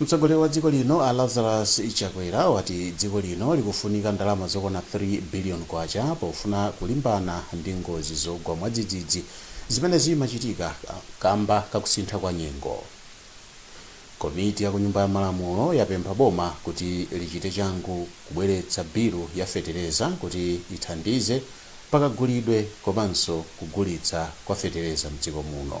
Mtsogoleri wa dziko lino a Lazarus Chakwera wati dziko lino likufunika ndalama zokwana K3 billion pofuna kulimbana ndi ngozi zogwa mwadzidzidzi zimene zimachitika kamba kakusintha kwa nyengo. Komiti ya ku nyumba ya malamulo yapempha boma kuti lichite changu kubweretsa bilu ya fetereza kuti ithandize pakagulidwe komanso kugulitsa kwa fetereza mdziko muno.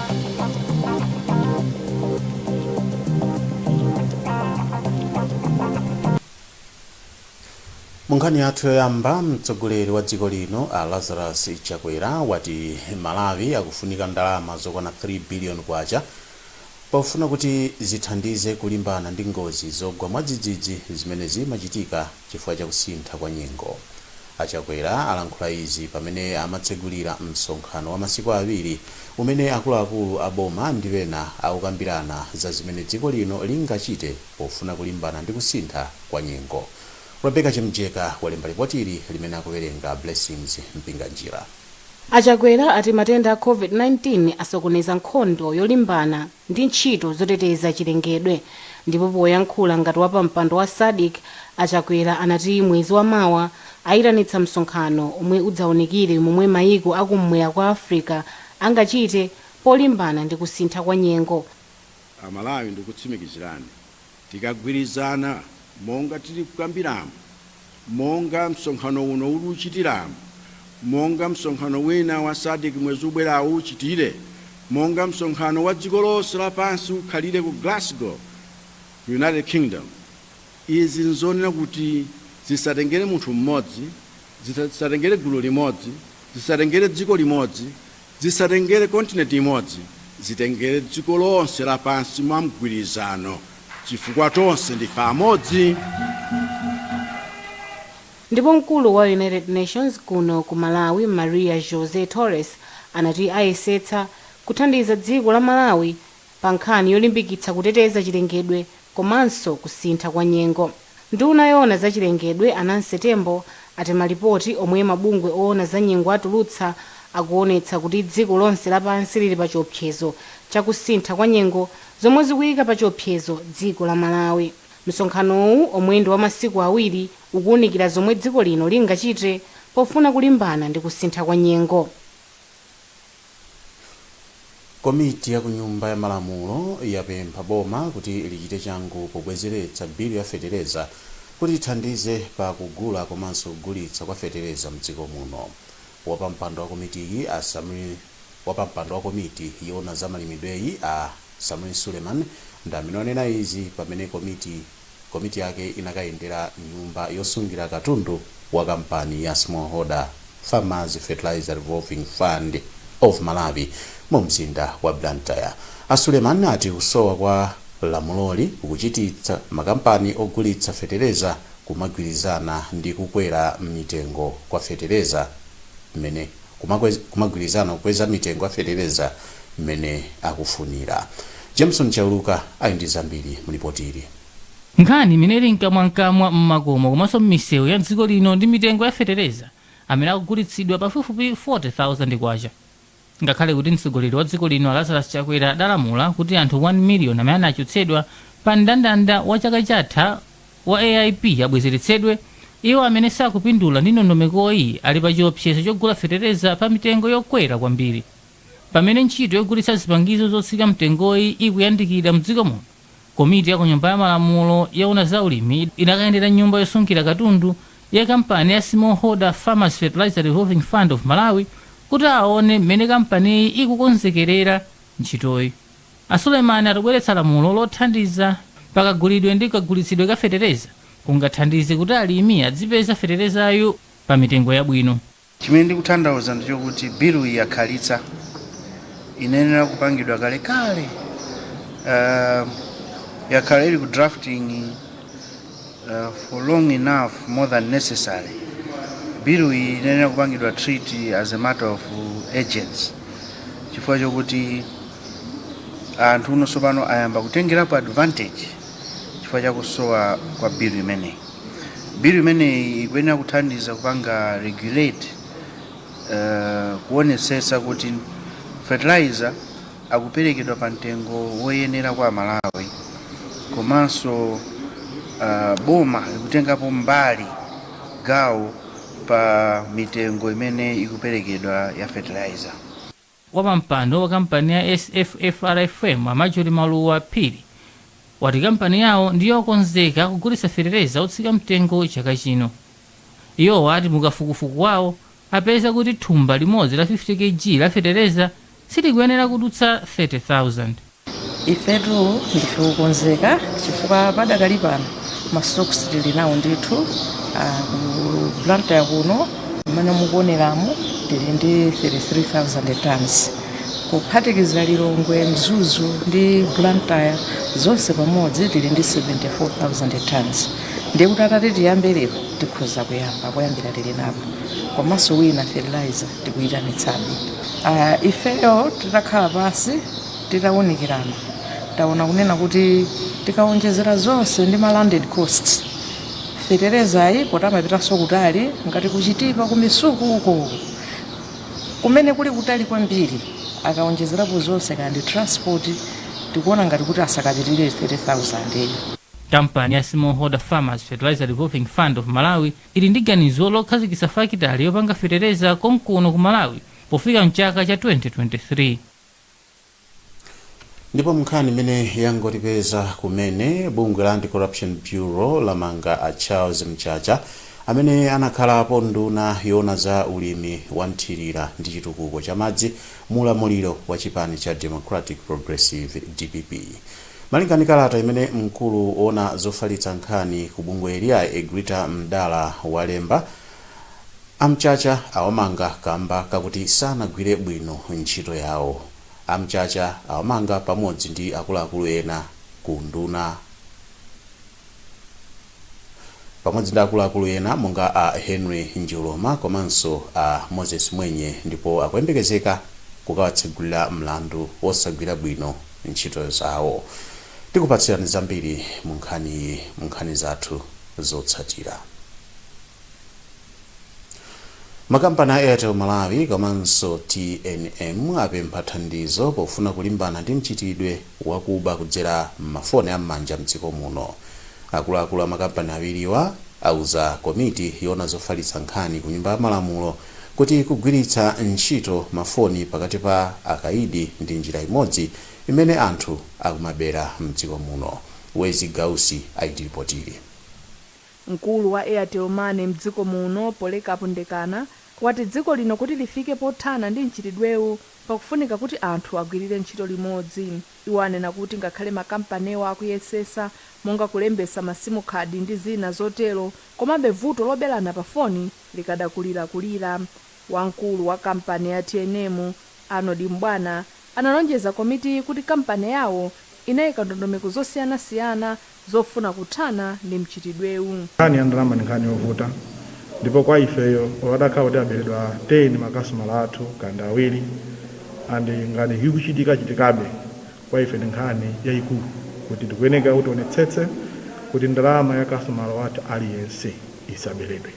Munkhani yathu yoyamba, mtsogoleri wa dziko lino a Lazarus Chakwera wati Malawi akufunika ndalama zokwana K3 billion pofuna kuti zithandize kulimbana ndi ngozi zogwa mwadzidzidzi zimene zimachitika chifukwa cha kusintha kwa nyengo. A Chakwera alankhula izi pamene amatsegulira msonkhano wa masiku awiri umene akuluakulu a boma ndi ena akukambirana za zimene dziko lino lingachite pofuna kulimbana ndi kusintha kwa nyengo. Rebecca Chimjeka walemba lipotili limene akuwerenga Blessings Mpinganjira. A Chakwera ati matenda a Covid-19 asokoneza nkhondo yolimbana. ndi ntchito zoteteza chilengedwe. Ndipo poyankhula ngati wapampando wa Sadc, a Chakwera anati mwezi wa mawa ayitanitsa msonkhano omwe udzaunikire momwe mayiko a kum'mwera kwa Africa angachite polimbana ndi kusintha kwa nyengo. A Malawi ndikukutsimikizirani Tikagwirizana monga tili kukambiramu, monga msonkhano uno uli kuchitiramu, monga msonkhano wina wa Sadc mwezi ubwerawu uchitire, monga msonkhano wa dziko lonse lapansi ukhalire ku Glasgow, ku United Kingdom, izi nzonena kuti zisatengere munthu mmodzi, zisatengere gulu limodzi, zisatengere dziko limodzi, Zisatengere kontinenti imodzi, zitengere dziko lonse lapansi mwa mgwirizano, chifukwa tonse ndife amodzi. Ndipo mkulu wa United Nations kuno ku Malawi Maria Jose Torres anati ayesetsa kuthandiza dziko la Malawi pa nkhani yolimbikitsa kuteteza chilengedwe komanso kusintha kwa nyengo. Nduna yoona za chilengedwe, a Nancy Tembo, ati malipoti omwe mabungwe oona za nyengo atulutsa akuonetsa kuti dziko lonse lapansi lili pa chiopsezo cha kusintha kwa nyengo zomwe zikuyika pa chiopsezo dziko la Malawi. Msonkhanowu omwe ndi wa masiku awiri ukuwunikira zomwe dziko lino lingachite pofuna kulimbana ndi kusintha kwa nyengo. Komiti ya kunyumba ya malamulo yapempha boma kuti lichite changu pobwezeretsa bill ya fetereza kuti ithandize pa kugula komanso kugulitsa kwa fetereza mdziko muno. Wapampando wa komitiyi a Sameer Wapampando wa komiti yoona za malimidweyi a Sameer Suleman ndi amene anena izi pamene komiti. komiti yake inakayendera nyumba yosungira katundu wa kampani ya Smallholder Farmers Fertilizer Revolving Fund of Malawi mu mzinda wa Blantyre. A Suleman ati kusowa kwa lamuloli kukuchititsa makampani ogulitsa fetereza kumagwirizana ndi kukwera mitengo kwa fetereza m'mene. kumakweza kumagwirizana kukweza mitengo ya fetereza mmene akufunira. Jameson Chauluka ali ndi zambiri mu lipoti ili. Nkhani imene ili mkamwamkamwa mmakomo komanso mmisewu ya dziko lino ndi mitengo ya fetereza amene akugulitsidwa pafupifupi K40,000. Ngakhale kuti mtsogoleri wa dziko lino a Lazarus Chakwera adalamula kuti anthu 1 miliyoni amene anachotsedwa pa mndandanda wa chaka chatha wa AIP abwezeretsedwe, iwo amene sakupindula ndi ndondomekoyi ali pachiopsezo chogula fetereza pamitengo yokwera kwambiri. Pamene ntchito yogulitsa zipangizo zotsika mtengoyi ikuyandikira m'dziko muno, komiti ya ku Nyumba ya Malamulo yoona za ulimi inakayendera nyumba yosungira katundu ya kampani ya Smallholder Farmers Fertilizer Revolving Fund of Malawi kuti aone mmene kampaniyi ikukonzekerera ntchitoyi. A Suleman ati kubweretsa lamulo lothandiza pa kagulidwe ndi kagulitsidwe ka fetereza kungathandize kuti alimi adzipeza feterezayu pa mitengo yabwino. Chimene ndikuthandauza ndi chokuti biluyi yakhalitsa, inayenera kupangidwa kalekale, yakhala ili ku drafting. uh, for long enough more than necessary bill iyi inayenera kupangidwa treat as a matter of urgency chifukwa chokuti anthu uno tsopano ayamba kutengerapo advantage chifukwa chakusowa kwa bill imeneyi bill imeneyi ikuyenera kuthandiza kupanga regulate uh, kuonetsetsa kuti fertilizer akuperekedwa pa mtengo woyenera kwa aMalawi komanso uh, boma likutengapo mbali gawo pa mitengo imene ikuperekedwa ya fertilizer. Wapampando wa kampani ya SFFRFM a Marjorie Maluwa Phiri wati kampani yawo ndi yokonzeka kugulitsa fetereza otsika mtengo chaka chino. Iwo ati mukafukufuku wawo apeza kuti thumba limodzi la 50 Kg la fetereza silikuyenera kudutsa 30,000. Ifetu ndife okonzeka chifukwa padakali pano ma stocks tili nawo ndithu, a ku Blantyre kuno mmene mukuoneramu tili ndi 33,000 tonnes kuphatikiza Lilongwe, Mzuzu ndi Blantyre zonse pamodzi tili ndi 74,000 tonnes ndiye kuti atati tiyambe lero tikhoza kuyamba poyambira tili napo. komanso wina fertilizer tikuyitanitsabe uh, ifeyo titakhala pansi titawunikirana taona kunena kuti tikawonjezera zonse ndi ma landed costs feterezayi poti amapitanso kutali ngati kuchitipa kumisuku uko kumene kuli kutali kwambiri akawonjezerapo zonse kandi transport tikuona ngati kuti asakapitirire 30000 kampani ya smallholder farmers fertilizer revolving fund of malawi ili ndi ganizo lokhazikitsa fakitale yopanga fetereza konkuno ku Malawi pofika mchaka cha 2023. Ndipo m'nkhani imene yangotipeza kumene, bungwe la Anti-Corruption Bureau lamanga a Charles Mchacha amene anakhalapo nduna yoona za ulimi wa mthirira ndi chitukuko cha madzi mu ulamuliro wa chipani cha Democratic Progressive, dpp. Malingana ndi kalata imene mkulu woona zofalitsa nkhani ku bungweli a Egrita Ndala walemba, a Mchacha awamanga kamba kakuti sanagwire bwino ntchito yawo. A Mchacha awamanga pamodzi ndi akuluakulu ena ku unduna. pamodzi ndi akuluakulu ena monga a Henry Njoloma komanso a Moses Mwenye ndipo akuyembekezeka kukawatsegulira mlandu wosagwira bwino ntchito zawo. Tikupatsirani zambiri munkhaniyi munkhani zathu zotsatira. Makampani a Airtel Malawi komanso tnm apempha thandizo pofuna kulimbana ndi mchitidwe wakuba kudzera m'mafoni a m'manja mdziko muno. Akuluakulu a makampani awiriwa auza komiti yoona zofalitsa nkhani ku Nyumba ya Malamulo kuti kugwiritsa ntchito mafoni pakati pa akaidi ndi njira imodzi imene anthu akumabera mdziko muno. Wezzie Gausi akutilipotera. Mkulu wa Airtel Money mdziko muno, Polycarp Ndekana, wati dziko lino kuti lifike pothana ndi mchitidwewu pakufunika kuti anthu agwilire ntchito limodzi. Iwo anena kuti ngakhale makampaniwa akuyesesa monga kulembesa ma simukhadi ndi zina zotero komabe vuto lobelana pa foni likadakulirakulira. Wamkulu wa kampani ya tnm, Arnold M'bwana, analonjeza komitiyi kuti kampani yawo inaika ndondomeko zosiyanasiyana zofuna kuthana ndi mchitidwewu. Nkhani ya ndalama ndi nkhani yovuta ndipo kwa ifeyo olo atakhala kuti aberedwa 10 makasitomala athu kaya ndi awiri and nkhani ikuchitika chitikabe kwa ife ndi nkhani yaikulu kuti tikuyenekera kuti tionetsetse kuti ndalama ya kasitomala wathu aliyense isaberedwe.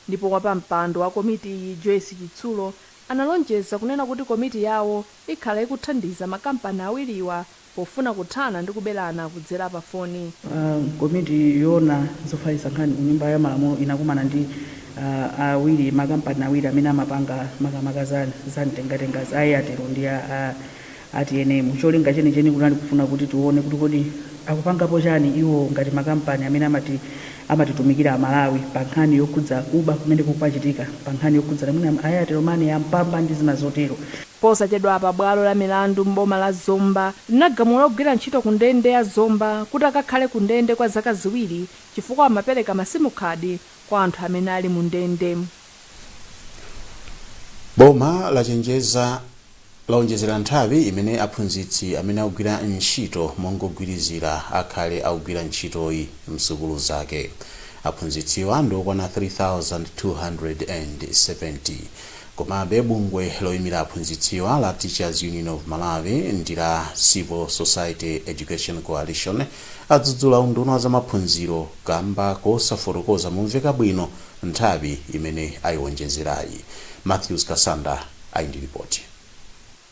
Ndipo wapampando wa komitiyi Joyce Chitsulo analonjeza kunena kuti komiti yawo ikhala ikuthandiza makampani awiriwa pofuna kuthana ndi kubelana kudzela pa foni. Komiti yoona zofalitsa nkhani ku nyumba ya malamulo inakumana ndi awiri ma kampani awiri amene amapanga makamaka za za mtengatenga za a Airtel ndi a a tnm. Cholinga chenicheni kunali kufuna kuti tione kuti kodi akupangapo chani iwo ngati ma kampani amene amatitumikira a Malawi pa nkhani yokhudza kuba kumene kukumachitika pa nkhani yokhudzana mwina Airtel money, ya Mpamba ndi zina zotero. Posachedwapa bwalo la milandu m'boma la Zomba linagamula ogwira ntchito ku ndende ya Zomba kuti akakhale ku ndende kwa zaka ziwiri chifukwa amapereka ma simu card kwa anthu amene ali mu ndende. Boma lachenjeza laonjezera nthawi imene aphunzitsi amene akugwira ntchito mongogwirizira akhale akugwira ntchitoyi msukulu zake. Aphunzitsiwa ndi okwana 3270. Komabe, bungwe loimira aphunzitsiwa la Teachers Union of Malawi ndi la Civil Society Education Coalition adzudzula unduna wa zamaphunziro kamba kosafotokoza momveka bwino nthawi imene aionjezerayi. Mathews Kasanda ali ndi lipoti.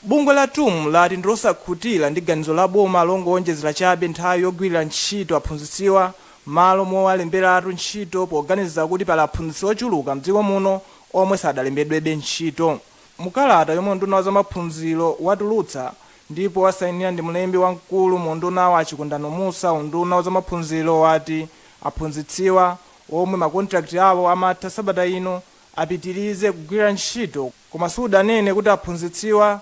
Bungwe la tum lati ndilosakhutira ndi ganizo la boma longoonjezera chabe nthawi yogwirira ntchito aphunzitsiwa mmalo mowalemberatu ntchito poganiza kuti pali aphunzitsi ochuluka mdziko muno omwe sadalembedwebe ntchito. Mu kalata yomwe unduna wa zamaphunziro watulutsa ndipo wasainira ndi mlembi wamkulu mu undunawu a Chikondano Mussa unduna wa zamaphunziro wati aphunzitsiwa omwe ma contract awo amatha sabata ino apitilize kugwira ntchito koma sudanene kuti aphunzitsiwa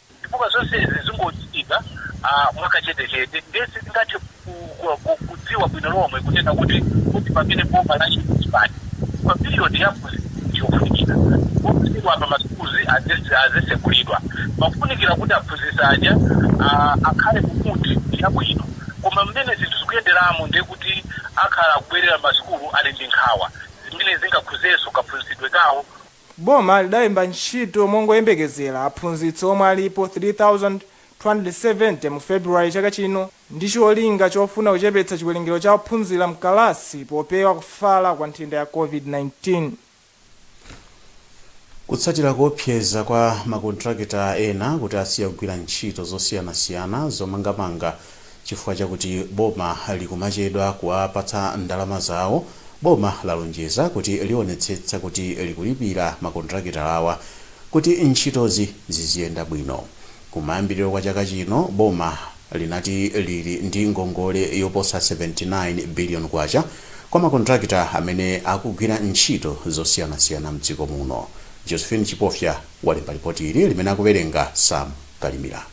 chifukwa zonsezi zingochitika mwakachetechete ndiye sitingathe kudziwa bwino lomwe kunena kuti kodi pamene boma latipatsa period yake ndi yofunikira posachedwapa ma schools azatsekulidwa pakufunikira kuti aphunzitsi aja akhale mu mood yabwino koma mmene zinthu zikuyenderamu ndiye kuti akhala akubwerera mmasukulu ali ndi nkhawa zimene zingakhuzenso kaphunzitsidwe kawo. Boma lidalemba ntchito mongoyembekezera aphunzitsi omwe alipo 3,270 mu February chaka chino ndi cholinga chofuna kuchepetsa chiwerengero cha ophunzira m'kalasi popewa kufala kwa nthenda ya Covid-19. Kutsatira kuopseza kwa makontrakita ena kuti asiya kugwira ntchito zosiyanasiyana zomangamanga chifukwa chakuti boma likumachedwa kuwapatsa ndalama zawo, boma lalonjeza kuti lionetsetsa kuti likulipira makontirakitala awa kuti ntchitozi ziziyenda bwino. Kumayambiriro kwa chaka chino, boma linati lili ndi ngongole yoposa K79 biliyoni kwa makontirakita amene akugwira ntchito zosiyanasiyana m'dziko muno. Josephine Chipofya walemba lipoti ili limene akuwerenga Sam Kalimira.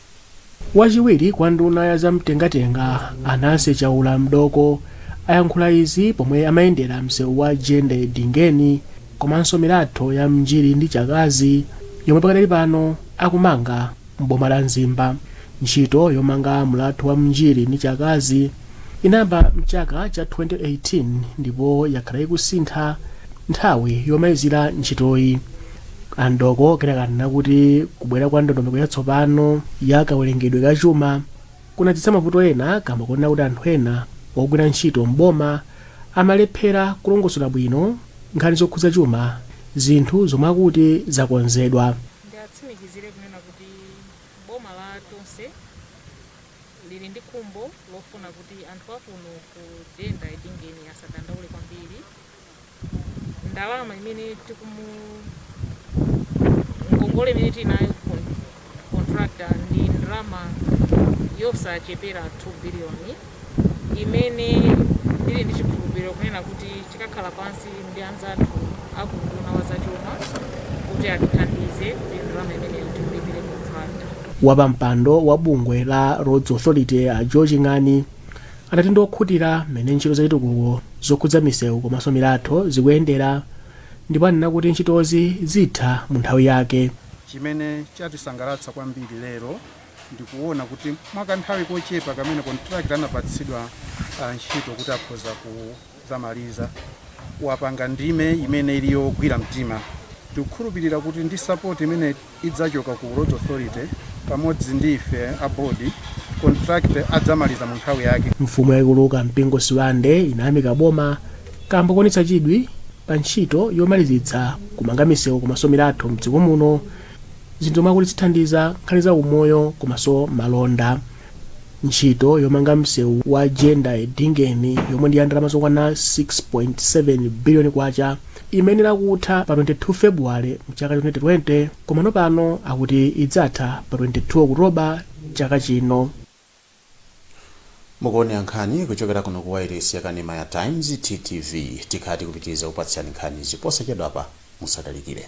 Wachiwiri kwa nduna ya za mtengatenga a Nancy Chaula Mdooko ayankhula izi pomwe amayendera msewu wa Jenda Edingeni komanso milatho ya Mnjiri ndi Chakazi yomwe pakadali pano akumanga m'boma la Mzimba. Ntchito yomanga mlatho wa Mnjiri ndi Chakazi inayamba mchaka cha 2018 ndipo yakhala ikusintha nthawi yomalizira ntchitoyi. A Mdooko anenanso kuti kubwera kwa ndondomeko yatsopano ya kawerengedwe ka chuma kunadzetsa mavuto ena kamba konena kuti anthu ena ogwira ntchito m'boma amalephera kulongosola bwino nkhani zokhudza chuma zinthu zomwe akuti zakonzedwa. Ndiwatsimikizire kunena kuti boma la Tonse lili ndi khumbo lofuna kuti anthu akuno ku Jenda Edingeni asadandaule kwambiri. ndalama imene tikumu ngongole imene tinayo ku con- contractor ndi ndalama yosachepera 2 biliyoni imene ndili ndi chikhulupiriro kunena kuti tikakhala pansi ndi anzathu aku unduna wa zachuma kuti atithandize kuti ndalama imeneyo tikulipire contractor wapampando wa bungwe la roads authority a joe ching'ani anati ndi okhutira ndi mmene ntchito zachitukuko zokhudza misewu komanso milatho zikuyendera ndipo anena kuti ntchitozi zitha mu nthawi yake chimene chatisangalatsa kwambiri lero ndikuona kuti mwakanthawi kochepa kamene kontrakita anapatsidwa ah, ntchito kuti akhoza ku- dzamaliza wapanga ndime imene ili yogwira mtima. Tikukhulupilira kuti ndi support imene idzachoka ku Roads Authority pamodzi ndi ife a board, contractor adzamaliza mu nthawi yake. Mfumu yaikulu Kampingo Sibande inayamika boma kaamba koonetsa chidwi pa ntchito yomalizitsa kumanga misewu komaso milatho mdziko muno, zinthu zomwe akuti zithandiza nkhani za umoyo komaso malonda. Ntchito yomanga msewu wa Jenda Edingeni yomwe ndi ya ndalama zokwana K6.7 biliyoni imayenera kutha pa 22 February mchaka cha 2020 komano pano akuti idzatha pa 22 October chaka chino. Mukuonera nkhani kuchokera kuno ku wailesi yakanema ya Times, TTV. Tikhala tikupitiriza kukupatsirani nkhanizi posachedwapa. Musatalikire.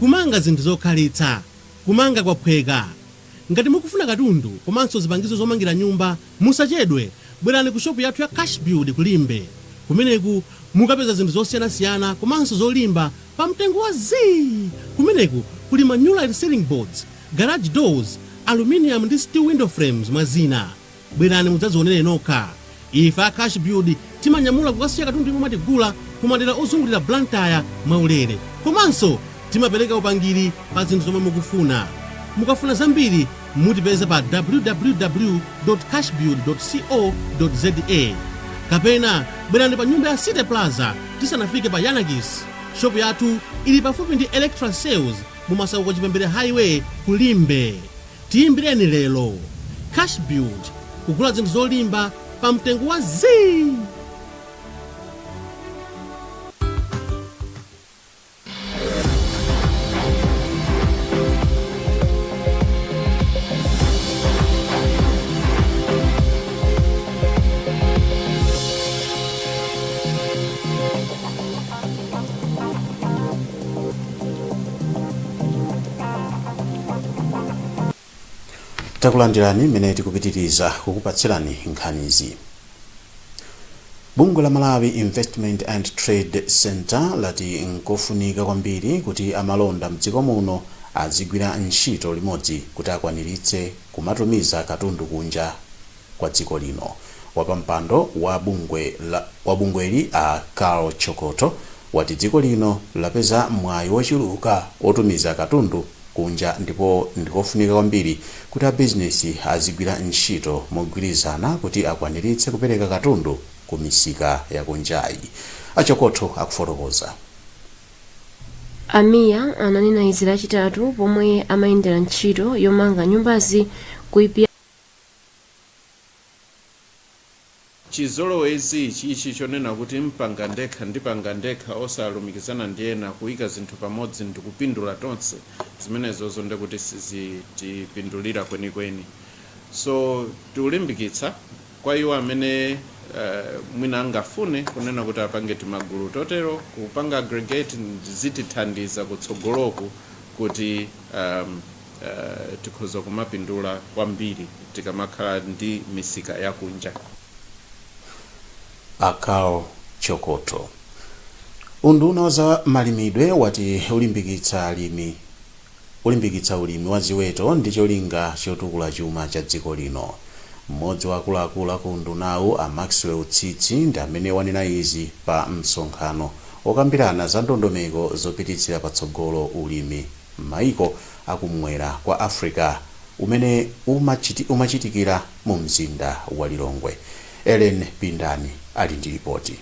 Kumanga zinthu zokhalitsa. Kumanga kwaphweka. Ngati mukufuna katundu komanso zipangizo zomangira nyumba, musachedwe, bwerani ku shopu yathu ya Cash Build ku Limbe. Kumeneku mukapeza zinthu zosiyanasiyana komanso zolimba pa mtengo wa zii! Kumeneku kuli ma Nulite Ceiling Boards, Garage Doors, Aluminium ndi Steel Window Frames mwa zina. Bwerani mudzadzionere nokha. Ife a Cashbuild timanyamula kukasiya katundu yemwe mwatigula ku madera ozungulira Blantyre mwaulere. Komanso timapereka upangiri pa zinthu zomwe mukufuna. Mukafuna zambiri mutipeza pa www.cashbuild.co.za kapena bwerani pa nyumba ya City Plaza tisanafike pa Yanakis. Shopu yathu ili pafupi ndi Electra Sales mu Masauko Chipembere Highway ku Limbe. Tiyimbireni lero. Cash build kugula zinthu zolimba pa mtengo wa zii! takulandirani mmene tikupitiriza kukupatsirani nkhanizi bungwe la malawi investment and trade center lati nkofunika kwambiri kuti amalonda mdziko muno azigwira ntchito limodzi kuti akwaniritse kumatumiza katundu kunja kwa dziko lino. Wapampando wa bungweli a Karl Chokotho wati dziko lino lapeza mwayi wochuluka wotumiza katundu kunja ndipo ndikofunika kwambiri kuti abizinesi azigwira ntchito mogwirizana kuti akwaniritse kupereka katundu ku misika yakunjayi. A Chokotho akufotokoza. A Mia ananena izi lachitatu pomwe amayendera ntchito yomanga nyumbazi ku. Chizolowezi ichi chonena kuti mpanga ndekha, ndipanga ndekha osalumikizana ndi ena, kuika zinthu pamodzi ndikupindula tonse, zimenezozo nde kuti sizitipindulira kwenikweni. So tikulimbikitsa kwa iwo amene mwina angafune kunena kuti apange timagulu totero, kupanga aggregate zitithandiza kutsogoloku kuti. Tikhoza kumapindula kwambiri tikamakhala ndi misika yakunja. A Karl Chokotho. Unduna wa za malimidwe wati ulimbikitsa alimi ulimbikitsa ulimi wa ziweto ndi cholinga chotukula chuma cha dziko lino. Mmodzi wa akuluakulu a ku undunawu a Maxwell Tsitsi ndi amene wanena izi pa msonkhano wokambirana za ndondomeko zopititsira patsogolo ulimi. m'maiko a kum'mwera kwa Africa umene umachitikira mu mzinda wa Lilongwe. Ellen Pindani ali ndi lipoti.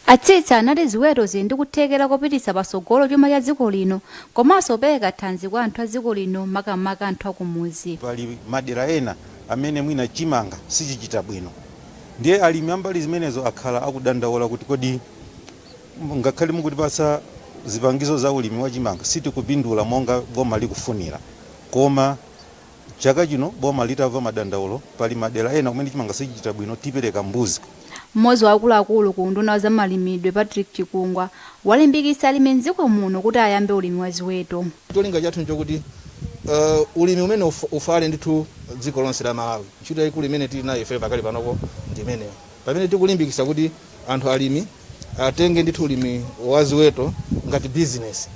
A Tsitsi anati ziweto zili ndi kuthekera kopititsa patsogolo chuma cha dziko lino komanso kupereka thanzi kwa anthu a dziko lino makamaka anthu akumudzi. Pali madera ena amene mwina chimanga sichichita bwino ndiye alimi ambali zimenezo akhala akudandaula kuti kodi Ngakhale mukutipatsa zipangizo za ulimi wa chimanga sitikupindula monga boma likufunira. Koma chaka chino boma litamva madandaulo pali madera ena kumene chimanga sichichita bwino tipereka mbuzi. Mmodzi wa akuluakulu ku unduna wa zamalimidwe Patrick Chikungwa walimbikitsa alimi m'dziko muno kuti ayambe ulimi wa ziweto. Cholinga chathu nchokuti ulimi umenewu ufale ndithu dziko lonse la Malawi. Ntchito yaikulu imene tili nayo ifeyo pakali panopo ndi imeneyo pamene tikulimbikitsa kuti anthu alimi. atenge ndithu ulimi wa ziweto ngati bizinesi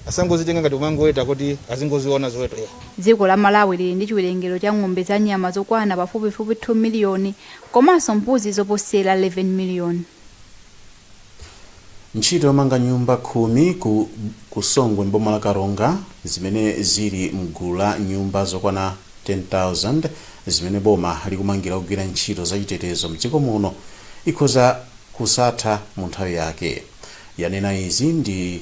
asangozitenga ngati kumangoweta kuti azingoziona ziweto ya. Dziko la Malawi lili ndi chiwerengero cha ng'ombe za nyama zokwana pafupifupi 2 miliyoni komanso mbuzi zoposera 11 miliyoni. Ntchito yomanga nyumba khumi ku ku Songwe m'boma la Karonga zimene zili mgulu la nyumba zokwana 10,000 zimene boma likumangira ogwira ntchito zachitetezo mdziko muno ikhoza kusatha mu nthawi yake. Yanena izi ndi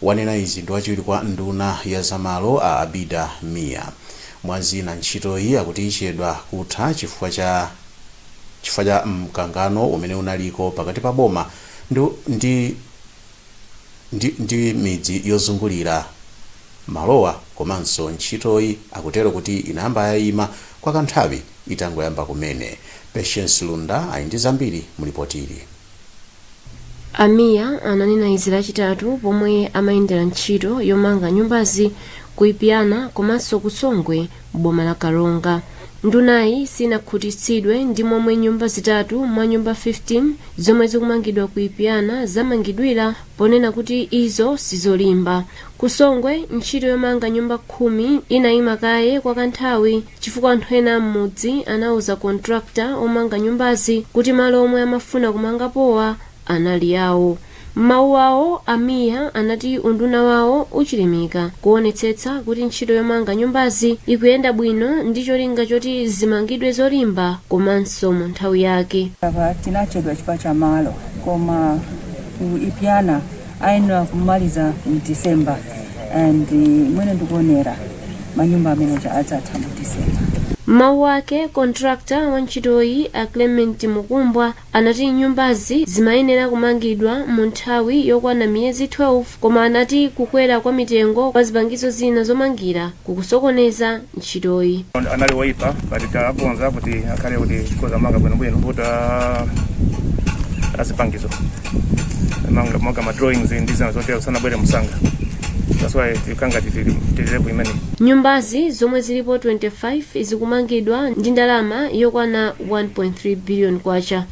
Wanena izi ndi wachiwiri kwa nduna ya za malo a Abida Mia. Mwa zina ntchitoyi akuti ichedwa kutha chifukwa cha chifukwa cha mkangano umene unaliko pakati pa boma ndi ndi. ndi, ndi midzi yozungulira malowa komanso ntchitoyi akutero kuti inayamba yaima kwa kanthawi itangoyamba kumene. Patience Lunda ali ndi zambiri mu lipotili. A Mia ananena izi lachitatu pomwe amayendera ntchito yomanga nyumbazi ku Ipyana komanso ku Songwe m'boma la karonga ndunayi sinakhutitsidwe ndi momwe nyumba zitatu mwa nyumba 15 zomwe zikumangidwa ku ipyana zamangidwira ponena kuti izo sizolimba ku songwe ntchito yomanga nyumba khumi inayima kaye kwa kanthawi chifukwa anthu ena a m'mudzi anauza kontrakta omanga nyumbazi kuti malo omwe amafuna kumangapowa anali awo. M'mawu awo, a Mia anati unduna wawo uchilimika kuonetsetsa kuti ntchito yomanga nyumbazi ikuyenda bwino ndi cholinga choti zimangidwe zolimba komanso mu nthawi yake. Apa tinachedwa chifukwa cha malo koma ku Ipiana ayenera kumaliza mu December and mwene ndikuonera, manyumba ameneja adzatha mu December. M'mawu ake, contractor wa ntchitoyi, a Clement Mukumbwa, Anati nyumbazi zimayenera kumangidwa mu nthawi yokwana miyezi 12 koma anati kukwera kwa mitengo kwa zipangizo zina zomangira kukusokoneza ntchitoyi. Anali oyipa but takonza kuti akhale kuti tikhoza kumanga bwinobwino kuti zipangizo monga ma drawings ndi zina zotero sanabwere msanga that's why tikangotitirirepo imeneyi Nyumbazi zomwe zilipo 25 zikumangidwa ndi ndalama yokwana 1.3 billion kwacha.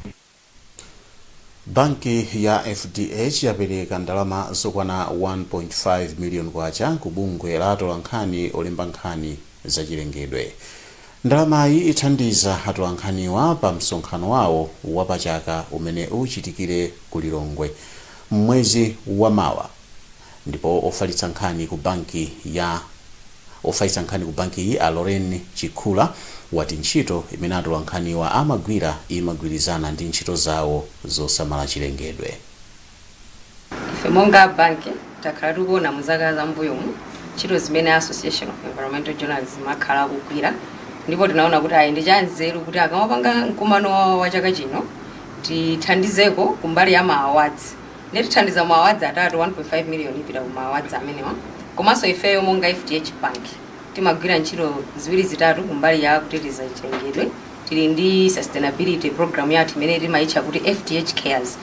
Banki ya FDH yapereka ndalama zokwana 1.5 million kwacha ku bungwe la atolankhani olemba nkhani za chilengedwe. Ndalamayi ithandiza atolankhaniwa pa msonkhano wawo wa pa chaka umene uchitikire ku Lilongwe m'mwezi wa mawa. Ndipo ofalitsa nkhani ku bankiyi a Lorraine Chikhula wati ntchito imene atolankhaniwa amagwira imagwirizana ndi ntchito zawo zosamala chilengedwe. Ife monga a banki takhala tikuona mu zaka za m'mbuyomu ntchito zimene a Association of Environmental Journalism akhala akugwira ndipo tinaona kuti ayi ndi cha nzeru kuti akamapanga mkumano wa chaka chino tithandizeko kumbali ya ma awards nde tithandiza ma awards atatu 1.5 million ipita ku ma awards amenewa komanso ifeyo monga fdh bank timagwira ntchito ziwiri zitatu kumbali ya kuteteza chilengedwe tili ndi sustainability program yathu imene timayitcha kuti fdh cares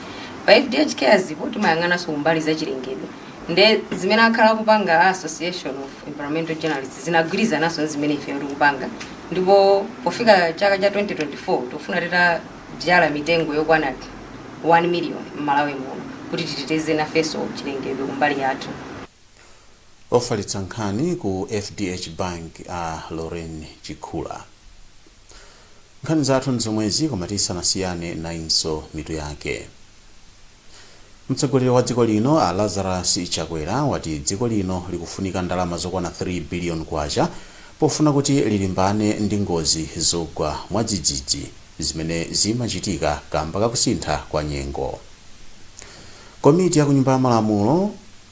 pa fdh cares po timayang'ananso kumbali za chilengedwe nde zimene akhala akupanga a association of environmental journalists zinagwirizananso ndi zimene ifeyo tikupanga ndipo pofika chaka cha 2024 tikufuna tita dzala mitengo yokwana 1 million m'Malawi muno kuti titeteze nafenso chilengedwe kumbali yathu. Ofalitsa nkhani ku fdh Bank a Lorraine Chikhula. Nkhani zathu ndi zomwezi koma tisanasiyane nayinso mitu yake. Mtsogoleri wa dziko lino a Lazarus Chakwera wati dziko lino likufunika ndalama zokwana 3 billion kwacha pofuna kuti lilimbane ndi ngozi zogwa mwadzidzidzi zimene zimachitika kamba kakusintha kwa nyengo. Komiti ya kunyumba ya malamulo.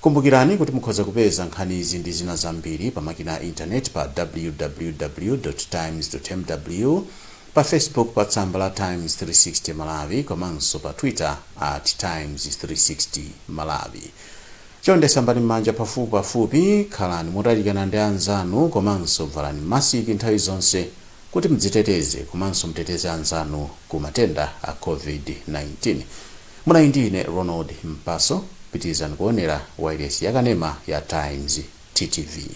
Kumbukirani kuti mukhoza kupeza nkhanizi ndi zina zambiri pa makina a intaneti pa www.times.mw, pa Facebook pa tsamba la Times 360 Malawi komanso pa Twitter at Times 360 Malawi. Chonde sambani m'manja pafupipafupi, khalani motalikana ndi anzanu komanso valani masiki nthawi zonse kuti mdziteteze komanso mteteze anzanu ku matenda a Covid-19. Munali ndi ine Ronald Mpaso, pitilizani kuonera wailesi ya kanema ya Times, TTV.